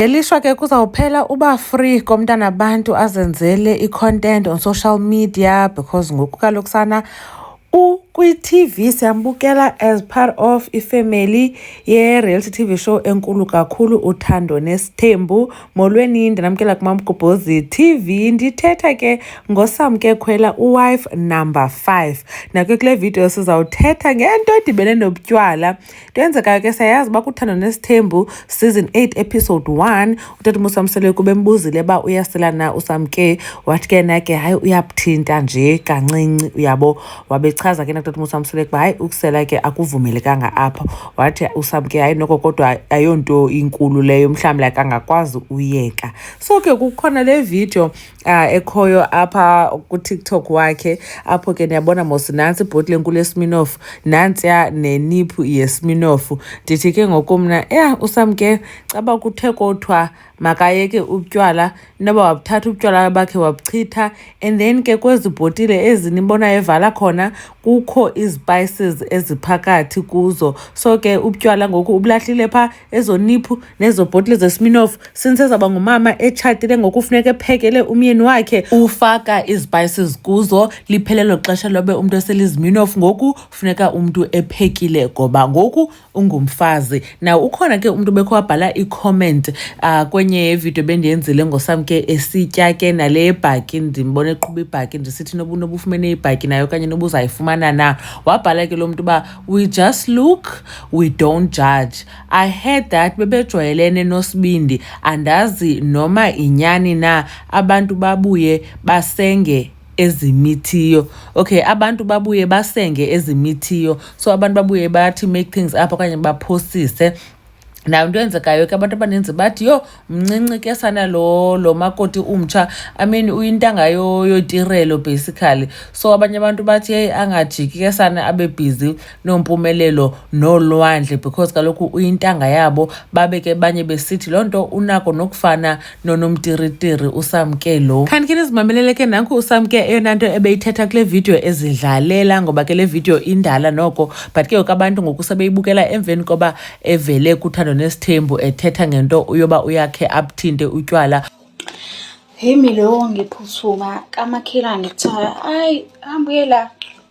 Ngelishwa ke kuzawuphela uba free komntana abantu azenzele i-content on social media because ngoku kaloku sana ukwi-TV siyambukela as part of ifamily ye-reality TV show enkulu kakhulu uthando nesithembu molweni ndinamkela kumamgubhozi TV ndithetha ke ngosamke khwela uwife number 5 nake kule video sizawuthetha ngento edibene nobutywala Kuyenzeka ke sayazi uba kuthando nesithembu season 8 episode 1 utata umusamsele kube mbuzile uba uyasela na usamke wathi ke na ke hayi uyabuthinta nje kancinci uyabo wabechaza ke nakutata umusamsele kuba hayi ukusela ke akuvumelekanga apha wathi usamke hayi noko kodwa ayonto inkulu leyo mhlawumbi like angakwazi uyeka so ke kukhona le video uh, ekhoyo apha kutiktok wakhe apho ke ndiyabona mos nantsi ibhoti lenkulu yesminofu nantsiya neniphu yesminofu ndithi ke ngoku mna ya usam ke caba kuthe kothiwa makayeke ubutywala noba wabuthatha ubutywala bakhe wabuchitha and then ke kwezi bhotile ezi nibonayo evala khona kukho izipayises eziphakathi kuzo so ke ubutywala ngoku ubulahlile phaa ezo niphu nezo bhotile zesminof since ezawuba ngumama etshatile ngoku funeka ephekele umyeni wakhe ufaka izipayises kuzo liphelelo xesha lobe umntu eseliziminof ngoku funeka umntu ephekile ngoba ngoku ungumfazi na ukhona ke umntu bekho wabhala icomment uh, kwenye yevidiyo bendiyenzile ngosam ke esitya ke nale yebhaki ndimbona eqhuba ibhaki ndisithi nobu nobufumene ibhaki nayo okanye nobuzayifumana na wabhala ke lo mntu uba we just look we don't judge i heard that bebejwayelene nosibindi andazi noma inyani na abantu babuye basenge ezimithiyo okay abantu babuye basenge ezimithiyo so abantu babuye bathi make things up okanye baphosise nayo into eyenzekayo ke abantu abaninzi bathi yho mncinci ke sana lo lo makoti umtsha i mean uyintanga yotirelo basically so abanye abantu bathi heyi angajiki ke sana abe bhizi nompumelelo nolwandle because kaloku uyintanga yabo babe ke banye besithi loo nto unako nokufana nonomtiritiri usamke lo kanti ke nizimamelele ke nanku usamke eyona nto ebeyithetha kule vidiyo ezidlalela ngoba ke le vidiyo indala noko but ke abantu ngoku sebeyibukela emveni koba evele kuthando nesithembu ethetha ngento uyoba uyakhe abuthinte utywala hemi lowo ngiphuthuma kamakhelwane kuthiwa hayi hambuyela